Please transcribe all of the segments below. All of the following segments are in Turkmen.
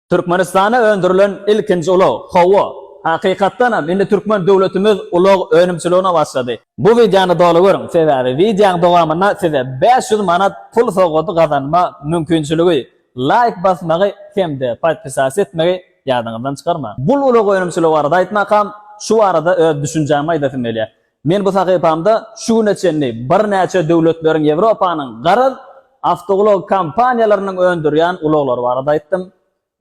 Türkmenistana öndürilen ilkinji ulag, Hawa, hakykatdan hem indi türkmen döwletimiz ulag önümçiligine başlady. Bu wideony doly görüň, sebäbi wideoň dowamynda size bäş ýüz manat pul sowgady gazanma mümkinçiligi, laýk basmagy hem-de podpisas etmegi ýadyňyzdan çykarmaň. Bul ulag önümçiligi barada aýtmakam, şu barada öz düşünjämi aýdasym gelýär. Men bu sahypamda şu güne çenli birnäçe döwletleriň, Ýewropanyň, garaz, awtoulag kompaniýalarynyň öndürýän ulaglary barada aýtdym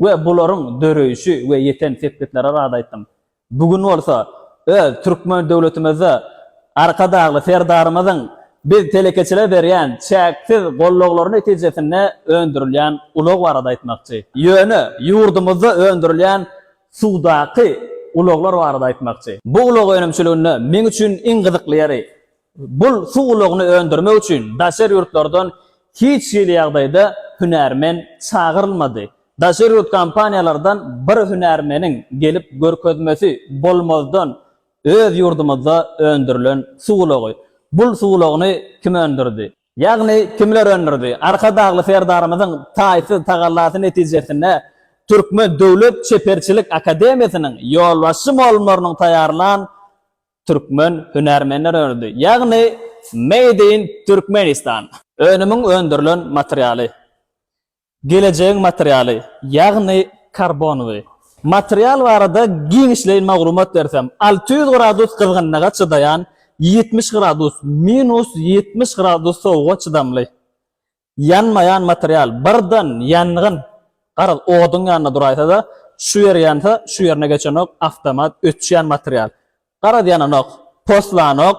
we bularyň döreýşi we ýeten sepgitleri barada aýtdym. Bu gün bolsa öz türkmen döwletimizde Arkadagly Serdarymyzyň biz telekeçilere berýän çäksiz gollaglary netijesinde öndürilýän ulag barada aýtmakçy. Ýöne ýurdumyzda öndürilýän Suwdaky ulaglar barada aýtmakçy. Bu ulag önümçiliginde meň üçin iň gyzykly ýeri, bul suw ulagyny öndürmek üçin daşary ýurtlardan hiç hili ýagdaýda hünärmen çagyrylmady. Daşary ýurt kompaniýalardan bir hünärmeniň gelip görkezmesi bolmazdan öz ýurdumyzda öndürilen suw ulagy. Bul suw ulagyny kim öndürdi? Ýagny kimler öndürdi? Arkadagly Serdarymyzyň taýsyz tagallasy netijesinde Türkmen döwlet çeperçilik akademiýasynyň ýolbaşçy mugallymlarynyň taýýarlan türkmen hünärmenleri öndürdi. Ýagny Made in Türkmenistan. Önümiň öndürilen materialy. Gelejegiň materialy, ýagny karbonywy. Material barada giňişleýin maglumat bersem, alty ýüz gradus gyzgynlyga çydaýan, ýetmiş gradus, minus ýetmiş gradus sowuga çydamly. Ýanmaýan material, birden ýangyn, garaz, oduň ýanynda duraýsa-da, şu ýer ýansa, şu ýerine geçenok, awtomat öçýän material. Garaz ýananok, poslanok,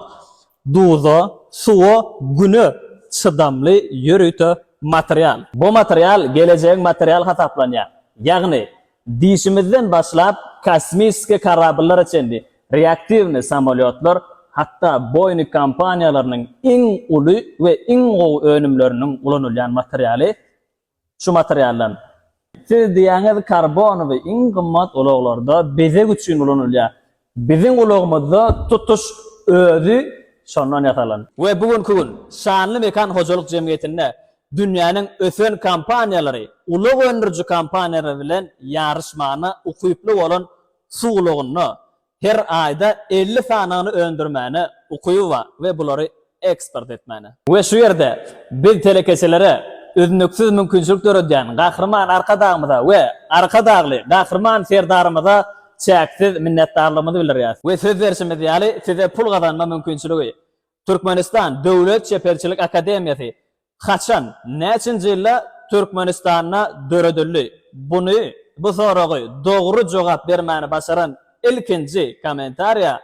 duza, suwa, güne çydamly ýörite material. Bu material gelejegiň materialy hasaplanýar. Ýagny, dişimizden başlap kosmiski karabllara çenli, reaktiwny samolýotlar, hatda Boeing kompaniýalarynyň iň uly we iň gowy önümleriniň ulanylýan materialy Şu materialdan. Siz diýýäňiz karbonowy iň gymmat ulaglarda bezeg üçin ulanylýar. Biziň ulagymyzda tutuş özi şondan ýasalan. We bu günki gün Şanly mekan hojalyk jemgyýetinde dünýäniň ösen kompaniýalary, ulag öndüriji kompaniýalary bilen ýaryşmana ukyply bolan suw ulagynda Her aýda elli sanyny öndürmäne ukyby bar we bulary eksport etmäne. We şu ýerde biz telekeçilere üznüksiz mümkinçilik döredýän Gahryman Arkadagymyza we Arkadagly Gahryman Serdarymyza çäksiz minnetdarlygymyzy bildirýäris. We söz berşimiz ýaly, size pul gazanma mümkinçiligi Türkmenistan Döwlet çeperçilik akademiýasy Haçan, näçinji ýylda Türkmenistanda döredildi? Buny, bu soragy dogry jogap bermäni başaran ilkinji kommentariýa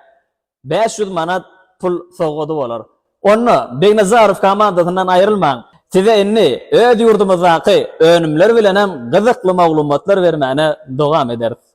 bäş ýüz manat pul sowgady bolar. Onda, Begnazarow komandasyndan aýrylmaň! Size indi öz ýurdumyzdaky önümler bilenem gyzykly maglumatlar bermäne dowam ederis.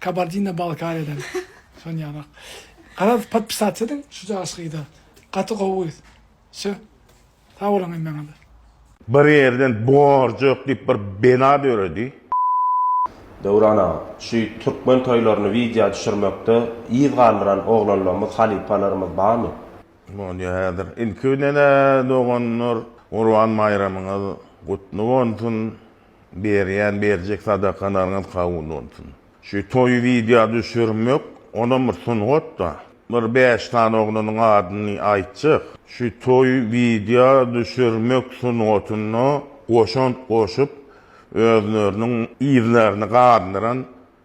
Kabardina Balkariýadan. Şony ýarak. Garaz podpisat ediň şu jaş gyza. Gaty gowy gyz. Şo. Sag boluň hemmeňize. Bir ýerden borjak diýip bir bela döredi. Döwran aga, şu türkmen toýlaryny widýa düşürmekde yz galdyran oglanlarymyz, halypalarymyz barmy? Bolýar häzir. Ilki bilen-ä doganlar Gurban baýramyňyz gutly bolsun. Berýän berjek sadakalaryňyz kabul bolsun. Şu toýy wideo düşürmek onam bir sungatda. Bir bäş sany oglanyň adyny aýtjak. Şu toýy wideo düşürmek sungatyna goşant goşup özleriniň yzlaryny gandyran.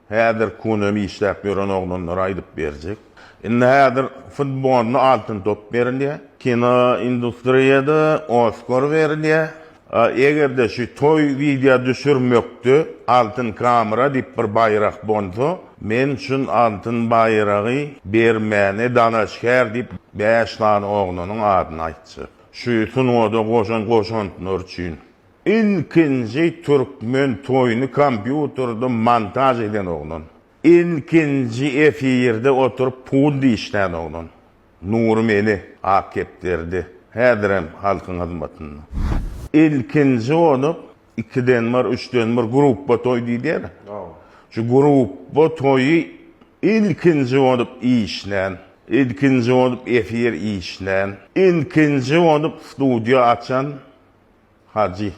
Häzir kunem işläp ýören oglanlar aýdyp berjek. Indi häzir futbolda altyn top berilýär. Kino industriýada Oskar berilýär. A eger-de şu toý wideo düşürmekde altyn kamera diýip bir baýrak bolsa, men şun altyn baýragy bermäne dalaşgär diýip bäş sany oglanyň adyny aýtjak. Şu sungada goşan goşantlary üçin. Ilkinji türkmen toýuny kompýuterde montaž eden oglan. Ilkinji efirde oturyp pul dişlän oglan. Nury Meli, Ak kepderde, häzirem halkyň hyzmatynda. Ilkinji bolup, ikiden bir, üçden bir gruppa toý diýilýär. Şu gruppa toýy ilkinji bolup işlän, ilkinji bolup efir işlän, ilkinji bolup studiýa açan Hajy.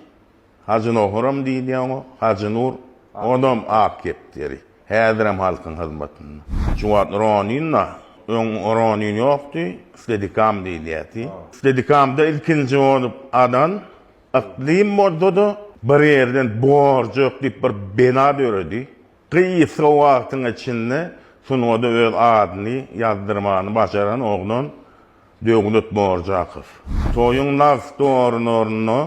Hajy Nohuram diýilýär oňa. Hajy Nur. Onam ak kepderi. Häzirem halkyň hyzmatynda. Şu wagt Ronin-a, öň Ronin ýokdy, Stedikam diýilýärdi. Stedikamda ilkinji bolup adan Yklym bolsa-da, bir ýerden Borjak diýip bir bina döredi. Gysga wagtyň içinde sungada öz adyny ýazdyrmany başaran oglan Döwlet Borjakow. Toýuň nagt-dorunaryny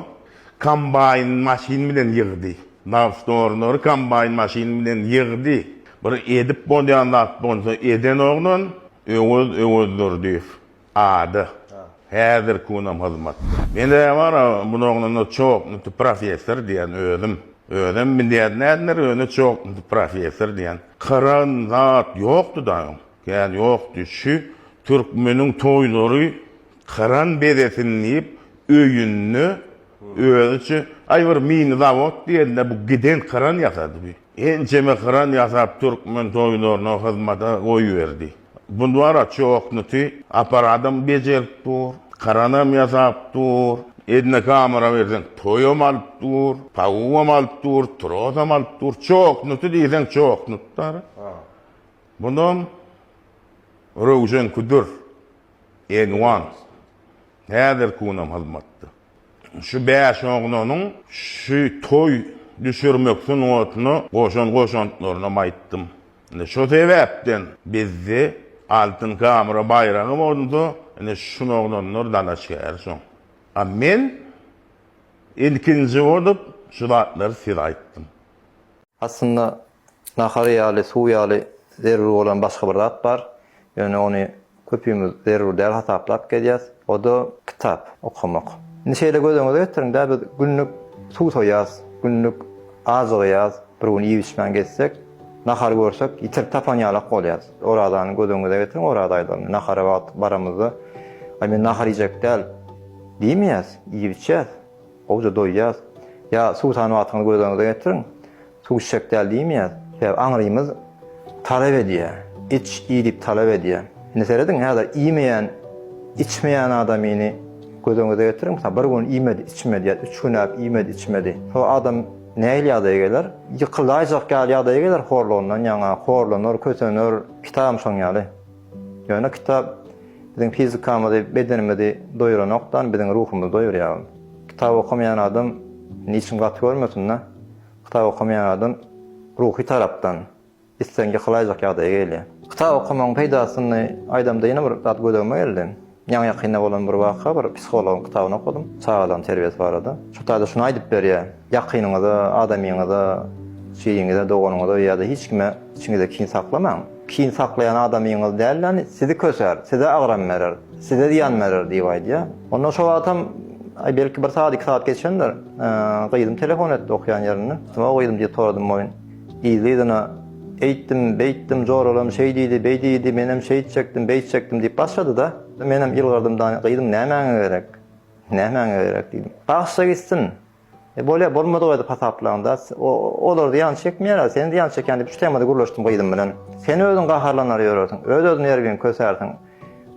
kombaýn maşyn bilen ýygdy. Nagt-dorunary kombaýn maşyn bilen ýygdy. Bir edip bolýan zat bolsa eden oglan Öwez Öwezdurdyýew. Ada, häzirki günem hyzmatda. Mende bar-a budagynyna çoknity professor diýen özüm. Özem bilýär nädindir öne çoknity professor diýen. Kyragyn zat ýokdy-da öň. Kän ýokdy. Şu türkmeniň toýlary kyran bezesin diýip öýünde özüçe, aý bir mini zawod diýen-de bu giden kyran ýasady bi. Ençeme kran ýasap türkmen toýlaryna hyzmata goýberdi. Bulwara çoknuty aparadam bejerip dur, kranam ýasap dur, eline kamera berseň toýam alyp dur, pawuam alyp dur, trosam alyp dur, çoknuty diýseň çoknutdyr. Bunam Röwşen Küdür, Enwan häzirki günam hyzmatda. Şu bäş oglanyň şu toý düşürmek sungatyna goşan goşantlaryny-am aýtdym. Ine, şo sebäpden bizde Altyn Kamyra baýragy bolsa, ine, şun oglanlar dalaşgär soň. A men ilkinji bolup şu zatlary size aýtdym. Aslynda, nahar ýaly, suw ýaly zerur bolan başga bir zat bar. Ýöne ony köpimiz zerur däl hasaplap gelýäs. O-da kitap okamak. Indi şeýle göz öňüňize getiriň-dä, biz günlük suw soýýas, günlük ajygýas, bir gün iýip-içmän gezsek, nahary görsek, ýitirip tapan ýalak bolýas. Orazany göz öňüňize getiriň, oraza aýlaryny. Nahara wagt baramyzda, Aý, men nahar iýjek däl diýmeýäs, iýip-içýäs. Gowja doýýas. Ýa suw sany wagtyňyzy gözleriňize getiriň. Suw içjek däl diýmeýäs. Sebäbi aňrymyz talap edýär. Iç, iý diýip talap edýär. Indi serediň, häzir iýmeýän, içmeýän adamyny gözüňize getiriň. Mysal, bir gün iýmedi, içmedi ýa üç günläp iýmedi, içmedi. Şo adam nähili ýagdaýa geler? Ýykylaýjak ýaly ýagdaýa geler horlugyndan ýaňa. Horlanar, kösener. Kitabam şoň ýaly. Ýöne kitap biziň fizikamyzy, bedenimizi doýuranokdan, biziň ruhumyzy doýurýar. Kitap okamaýan adam niçin gaty görmesin-dä? Kitap okamaýan adam ruhy tarapdan islendik hylaýjak ýagdaýa gelýär. Kitap okamagyň peýdasyny aýdamda ýene bir zat gözegime geldi. Ýaňy-ýakynda bolan bir waka, bir psihologyň kitabyny okadym, çagalygyň terbiýesi barada. Şol taýda şuny aýdyp berýär, Ýakynyňyza, adamyňyza, jiginiňize, doganyňyza ýa-da hiç kime içiňizde kin saklamaň. Kin saklaýan adamyňyz däl-de, sizi köser, size agram berer, size zyýan berer diýip aýdýar. Onda şo wagtam, aý, belki bir sagat, iki sagat geçendir, gyzym telefon etdi okýan ýerinde. O gyzym diýip soradym, Moýun. Yzly-yzyna, Eýtdim, beýtdim, joralam şeý diýdi, beý diýdi, menem şeýtjekdim, beýtjekdim diýip başlady-da, menem ýylgyrdym, Daýy, gyzym, nämäňe gerek? Nämäňe gerek? diýdim. Bagşy gitsin. E, bolýar, bolmadyk edip hasaplaň-da. Olar zyýan çekmeýär-ä, sen zyýan çekýäň diýip, şu temada gürleşdim gyzym bilen. Sen özüň gaharlanar ýörersiň, öz-özüne ergin kösersiň.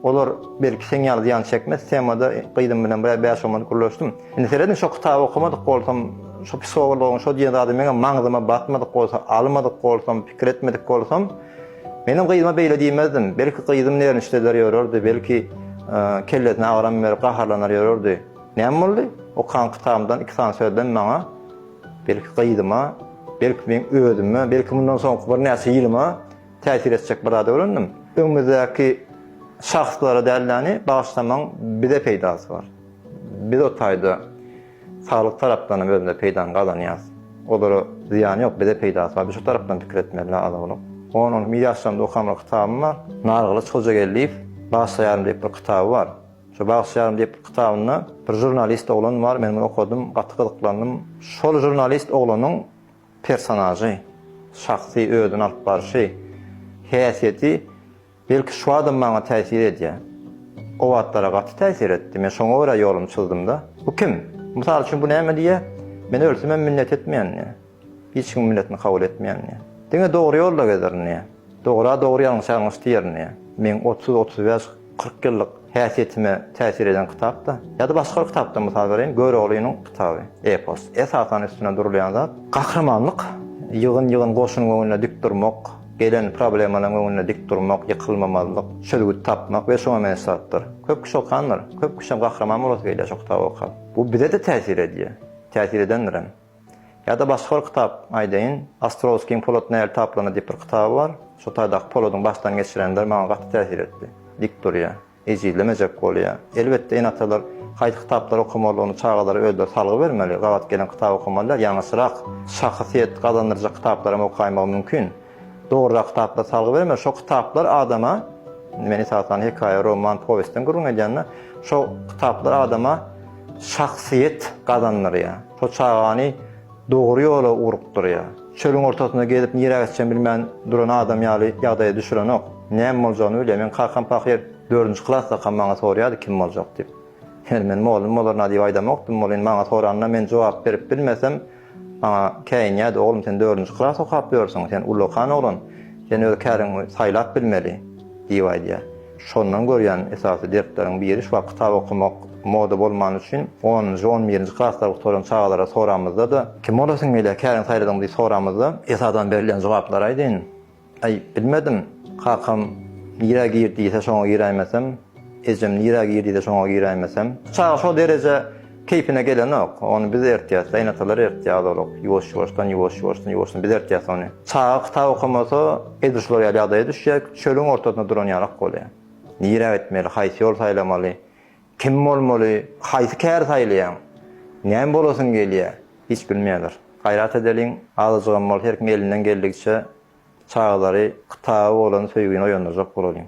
Olar belki seň ýaly zyýan çekmez temada gyzym bilen bir bäş-on minut gürleşdim. Indi seredin şo kitaby okamadyk bolsam, şo psihogologyň şo diýen zady meňem maňzyma batmadyk bolsa, almadyk bolsam, pikir etmedik bolsam, menem gyzyma beýle diýmezdim. Belki gyzym nerwniçdeler ýörerdi, belki kellesine agram berip gaharlanar ýörerdi. Näme boldy? Okan kitabymdan iki sany sözlem maňa, belki gyzyma, belki meň özüme, belki mundan soňky birnäçe ýylyma Täsir etjek bir zady öwrendim. Öňümizdäki şahslara däldäni bagyşlamaň bize peýdasy bar. Biz o taýda saglyk tarapdanam özümize peýdany gazanýas. Olara zyýany ýok, bize peýdasy bar. Biz şu tarapdan pikir etmeli aza bolup. On on bir ýaşlarymda okan bir kitabym bar. Nargylyç Hojageldiýew Bagyşlaýaryn diýip bir kitaby bar. Şu Bagyşlaýaryn diýip bir kitabynda bir žurnalist oglan bar, men muny okadym, gaty gyzyklandym. Şol žurnalist oglanyň personažy, şahsy özüni alyp barşy, häsiýeti belki şu adam maňa täsir edýär. O wagtlara gaty täsir etdi. Men şoňa görä ýolumy çyzdym-da. Bu kim? Mysal üçin bu näme diýýär? Men ölsemem minnet etmeýän diýýär. Hiç kimiň minnetini kabul etmeýän diýýär. Diňe dogry ýolda gezerin diýýär. Dogra dogry ýalňyşa ňyşdy ýerine. Meň otuz, otuz bäş, kyrk ýyllyk häsiýetime täsir eden kitapda, ýa-da başga bir kitapdan mysal bereýin, Göroglynyň kitaby, epos. Esasan üstünde durulýan zat, gahrymanlyk, ýygyn-ýygyn goşunyň öňünde dik durmak, gelen problemalaryň öňünde dik durmak, ýykylmamazlyk, çözgüt tapmak we şuňa meňzeş zatlar. Köp kişi okandyr. Köp kişem gahryman bolasy gelýär şo kitaby okap. Bu bize-de täsir edýär. Täsir edendirem. Ýa-da başga bir kitap aýdaýyn. Ostrowskiň Polat nähili taplanar diýip bir kitaby bar. Şo taýdaky Poladyň başdan geçirenleri maňa gaty täsir etdi. Dik durýar. Ejizlemejek bolýar. Elbetde, ene-atalar haýsy kitaplary okamalydygyny çagalara özleri salgy bermeli. Gabat gelen kitaby okamalylar. Ýalňyşyrak şahsyýet gazandyrjak kitaplaram okaýmagy mümkin. Dogruda kitaplar salgy bermeli. Şo kitaplar adama, men esasan hekaýa, roman, powestden gürrüň edýän-de, şo kitaplar adama şahsyýet gazandyrýar. Şo çagany dogry ýola ugrukdyrýar. Çölüň ortasynda gezip nirä gitjegini bilmän duran adam ýaly ýagdaýa düşürenok. Näme boljagyny bilýär. Meň kakam pahyr dördünji klasdakam maňa sorýardy kim boljak diýip. Ýöne men mugallym bolaryn-a diýip aýdamokdym. Ol indi maňa soranda men jogap berip bilmesem, Maňa käýinýärdi, Oglum, sen dördünji klas okap ýörsüň, sen ullakan oglan, sen öz käriňi saýlap bilmeli diýip aýdýar. Şondan görýän esasy dertleriň biri şu wagt kitap okamak moda bolmany üçin onunjy, on birinji klaslary gutaran çagalara soramyzda-da, Kim bolasyň gelýär, käriňi saýladyňmy diýip soramyzda, esasan berilýän jogaplar aýdyn. Aý, bilmedim. Kakam nirä gir diýse şoňa giräýmesem, ejem nirä gir diýse şoňa giräýmesem. Çaga şo dereje keýpine gelenok. Ony biz ertýäs. Gaýynatalar ertýär azalyk. Ýuwaş-ýuwaşdan, ýuwaş-ýuwaşdan, ýuwaşdan biz ertýäs ony. Çaga kitap okamasa, edil şular ýaly ýagdaýa düşýär. Çölüň ortasynda duran ýalak bolýar. Nirä gitmeli, haýsy ýoly saýlamaly? Kim bolmaly, haýsy käri saýlaýaň? Näme bolasyň gelýär? Hiç bilmeýärler. Gaýrat edeliň, azajygam bolsa her kim elinden geldigiçe çagalary kitaba bolan söýgini oýandyrjak bolalyň.